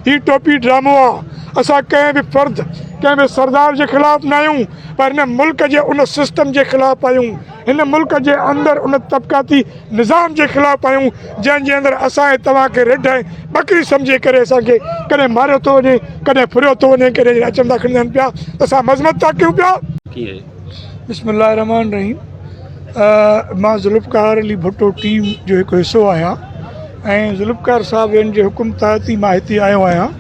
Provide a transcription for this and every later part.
هي ٽوپي ڊرامو آ اسان ڪنهن به فرد ڪنهن به سردار جي خلاف ناهيون پر هن ملڪ جي ان سسٽم جي خلاف آهيون هن ملڪ جي اندر ان طبقاتي نظام جي خلاف آهيون جنهن جي اندر اسان ۽ توهان کي رڍ ۽ ٻڪري سمجهي ڪري اسان کي ڪڏهن ماريو ٿو وڃي ڪڏهن ڦريو ٿو وڃي ڪڏهن جڏهن اچن ٿا کڻندا آهن پيا ته اسان مذمت ٿا ڪيون پيا. بسم الله الرحمٰن الرحيم مان ذوالفقار علي ڀٽو ٽيم جو هڪ حصو آهيان ۽ ذوالفقار صاحب جن جي حڪم تحت ئي مان هتي آيو آهيان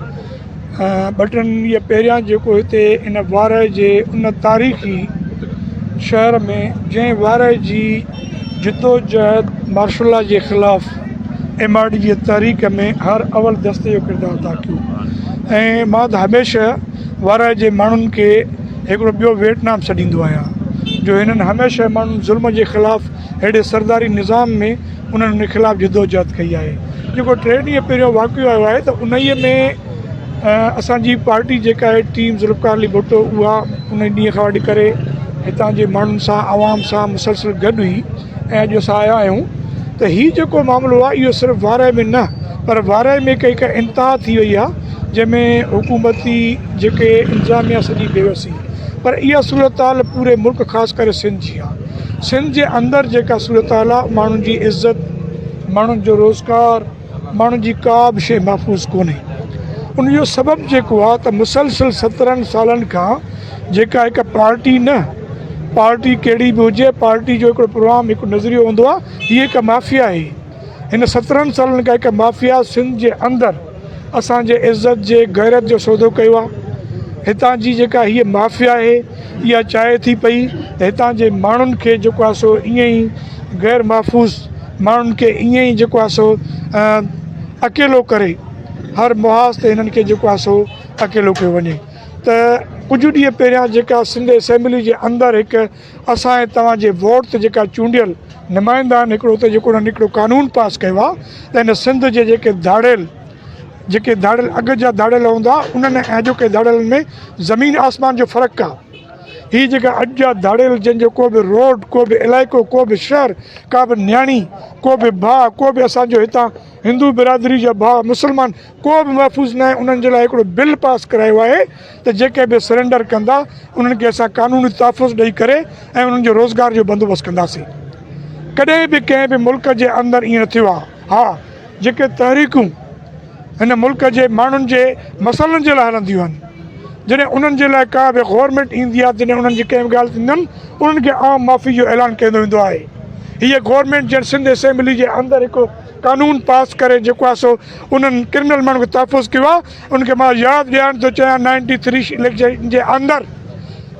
ٻه ٽن ڏينهن پهريان جيڪو هتي ان وارهه جي ان تاريخي شهر ۾ جنهن وارهه جي جدوجهد مارشل لا جي خلاف ايم آر ڊي جي تحريڪ ۾ هر اول دستي جو ڪردار ادا ڪيو ۽ مان ته هميشه وارهه جي ماڻهن کي هڪڙو ٻيو ويٽنام سڏيندو آهيان جو هنن هميشه ماڻهن ظلم جي خلاف ههڙي سرداري نظام ۾ انهن ان خلاف جدوجهد ڪئي آهي جيڪو ٽي ڏينهن پهريون واقعو آيو آهي ته انهيء ۾ اسانجي پارٽي جيڪا آهي ٽيم ذوالفقار علي ڀٽو اها ان ڏينهن کان وٺي ڪري هتان جي ماڻهن سان عوام سان مسلسل گڏ هئي ۽ اڄ اسان آيا آهيون ته هي جيڪو معاملو آهي اهو صرف وارهه ۾ نه پر وارهه ۾ ڪئي ڪئي انتها ٿي وئي آهي جنهن ۾ حڪومتي جيڪي انتظاميا سڄي بي وسي پر اها صورتحال پوري ملڪ خاص ڪري سنڌ جي آهي سنڌ جي اندر جيڪا صورتحال آهي ماڻهن جي عزت ماڻهن جو روزگار ماڻهن جي ڪا به شيء محفوظ ڪونهي. ان جو سبب جيڪو آهي ته مسلسل سترهن سالن کان جيڪا هڪ پارٽي نه پارٽي ڪهڙي به هجي پارٽي جو هڪڙو پروام هڪ نظريو هوندو آهي هيء هڪ مافيا آهي هن سترهن سالن کان هڪ مافيا سنڌ جي اندر اسان جي عزت جي غيرت جو سودو ڪيو آهي هتان جي جيڪا هيء مافيا آهي اها چاهي ٿي پئي ته هتان جي ماڻهن کي جيڪو آهي سو ائين ئي غير محفوظ ماڻهن کي ائين ئي جيڪو آهي سو اڪيلو ڪري هر محاذ تي هنن کي جيڪو آهي سو اڪيلو ڪيو وڃي ته ڪجهه ڏينهن پهريان جيڪا سنڌ اسيمبلي جي اندر هڪ اسان ۽ توهان جي ووٽ تي جيڪا چونڊيل نمائندا آهن هڪڙو ته جيڪو انهن هڪڙو قانون پاس ڪيو آهي ته هن سنڌ جي جيڪي ڌاڙيل جيڪي ڌاڙيل اڳ جا ڌاڙيل هوندا انهن ۽ اڄوڪي ڌاڙيلن ۾ زمين آسمان جو فرق آهي هي جيڪا اڄ جا ڌاڙيل جن جو ڪو به روڊ ڪو به علائقو ڪو به شهر ڪا به نياڻي ڪو به ڀاء ڪو به اسان جو هتان هندو برادري جا ڀاء مسلمان ڪو به محفوظ ناهي انهن جي لاء هڪڙو بل پاس ڪرايو آهي ته جيڪي به سرينڊر ڪندا انهن کي اسان قانوني تحفظ ڏئي ڪري ۽ انهن جو روزگار جو بندوبست ڪنداسين ڪڏهن به ڪنهن به ملڪ جي اندر ائين نه ٿيو آهي ها جيڪي تحريڪون هن ملڪ جي ماڻهن جي مسئلن جي لاء هلنديون آهن جڏهن انهن جي لاء ڪا به گورنمينٽ ايندي آهي تڏهن انهن جي ڪنهن به ڳالهه تي انهن کي عام معافي جو اعلان ڪندو ويندو آهي هيء گورنمينٽ جنهن سنڌ اسيمبلي جي اندر هڪ قانون پاس ڪري جيڪو آهي سو انهن ڪرمنل ماڻهن کي تحفظ ڪيو آهي انهن کي مان ياد ڏيارڻ ٿو چاهيان نائنٽي ٿري اليڪشن جي اندر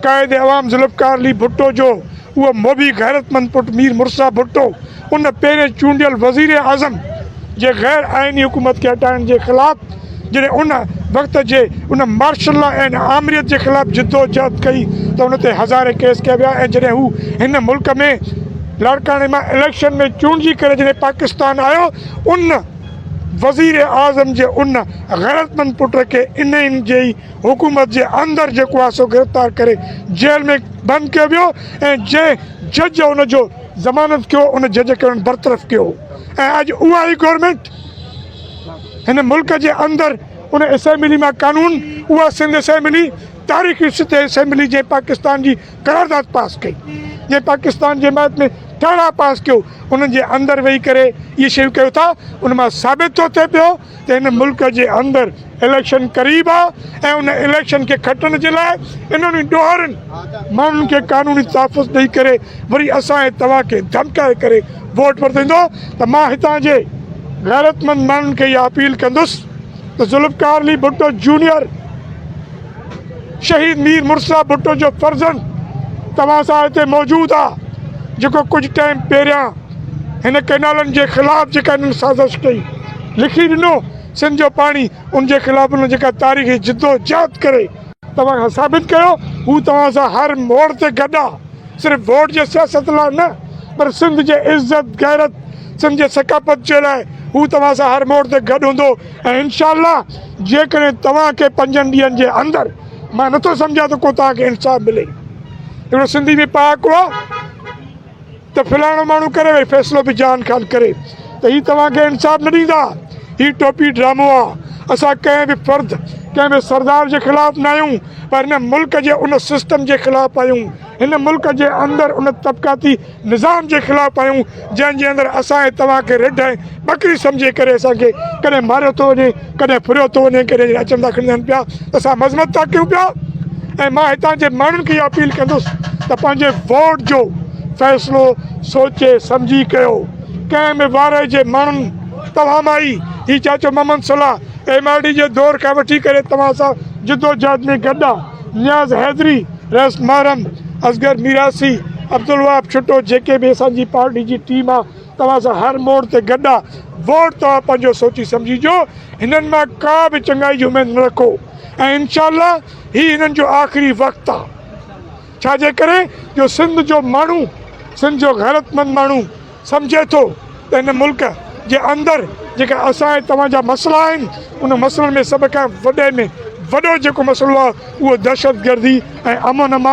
قائد عوام ذوالفقار علي ڀٽو جو اهو مبي غيرتمند پٽ مير مرسا ڀٽو ان پهرين چونڊيل وزير اعظم جي غير آئيني حڪومت کي هٽائڻ جي خلاف جڏهن ان وقت جي ان مارشل لا ۽ آمريت جي خلاف جدوجهد ڪئي ته ان تي هزارين ڪيس ڪيا ويا ۽ جڏهن هو هن ملڪ ۾ لاڙڪاڻي مان اليڪشن ۾ چونڊجي ڪري جڏهن پاڪستان آيو ان وزير اعظم جي ان غيرتمند پٽ کي انهن جي ئي حڪومت جي اندر جيڪو آهي سو گرفتار ڪري جيل ۾ بند ڪيو ويو ۽ جنهن جج ان جو ضمانت ڪيو ان جج کي انهن برطرف ڪيو ۽ اڄ اها ئي گورنمينٽ هن ملڪ جي اندر ان اسيمبلي مان قانون اها سنڌ اسيمبلي تاريخي سطح اسيمبلي جنهن پاڪستان جي قرارداد پاس ڪئي جنهن پاڪستان جي حمايت ۾ ٺهراء پاس ڪيو انهن جي اندر ويهي ڪري اهي شيون ڪيو ٿا ان مان ثابت ٿو ٿئي پيو ته هن ملڪ جي اندر اليڪشن قريب آ ۽ ان اليڪشن کي کٽڻ جي لاء انهن ئي ڏوهارين ماڻهن کي قانوني تحفظ ڏئي ڪري وري اسان ۽ توهان کي ڌمڪائي ڪري ووٽ ورتيندو ته مان هتان جي غيرتمند ماڻهن کي اها اپيل ڪندس ته ذوالفقار علي ڀٽو جونيئر شهيد مير مرتضيٰ ڀٽو جو فرزند توهان سان هتي موجود آ جيڪو ڪجهه ٽائيم پهريان هن ڪئنالن جي خلاف جيڪا هنن سازش ڪئي، لکي ڏنو، سنڌ جو پاڻي، ان جي خلاف هنن جيڪا تاريخي جدوجهد ڪري، توهان کي ثابت ڪيو، هو توهان سان هر موڙ تي گڏ آ، صرف ووٽ جي سياست لا نه، پر سنڌ جي عزت، غيرت، سنڌ جي ثقافت جي لاء هو توهان سان هر موڙ تي گڏ هوندو ۽ انشاء الله جيڪڏهن توهان کي پنجن ڏينهن جي اندر مان نٿو سمجهان ته ڪو توهان کي انصاف ملي هڪڙو سنڌي ۾ پهاڪو آ. ته فلاڻو ماڻهو ڪري وئي فيصلو به جان خان ڪري ته هي توهان کي انصاف نه ڏيندا هي ٽوپي ڊرامو آ اسان ڪنهن به فرد ڪنهن به سردار جي خلاف نه آهيون پر هن ملڪ جي ان سسٽم جي خلاف آهيون هن ملڪ جي اندر ان طبقاتي نظام جي خلاف آهيون جنهن جي اندر اسان ۽ توهان کي رڍ ۽ ٻڪري سمجهي ڪري اسان کي ڪڏهن ماريو ٿو وڃي ڪڏهن ڦريو ٿو وڃي ڪڏهن جڏهن اچن ٿا کڻجن پيا ته اسان مذمت ٿا ڪيون پيا ۽ مان هتان جي ماڻهن کي اها اپيل ڪندس ته پنهنجي ووٽ جو فيصلو سوچي سمجهي ڪيو ڪنهن به وارهي جي ماڻهن توهان مان ئي هي چاچو Muhammad Salah M R D جي دور کان وٺي ڪري توهان سان جدوجهد ۾ گڏ آ نياز حيدري رئيس محرم اصغر ميراسي عبدالوهاب ڇٽو جيڪي به اسان جي پارٽي جي ٽيم آ توهان سان هر موڙ تي گڏ آ ووٽ توهان پنهنجو سوچي سمجهي جو هنن مان ڪا به چڱائي جي اميد نه رکو ۽ انشاء الله هي هنن جو آخري وقت آ ڇاجي ڪري جو سنڌ جو ماڻهو سنڌ جو غيرت مند ماڻهو سمجهي ٿو ته هن ملڪ جي اندر جيڪا اسان ۽ توهان جا مسئلا آهن ان مسئلن ۾ سڀ کان وڏي ۾ وڏو جيڪو مسئلو آ اهو دهشتگردي ۽ امن امان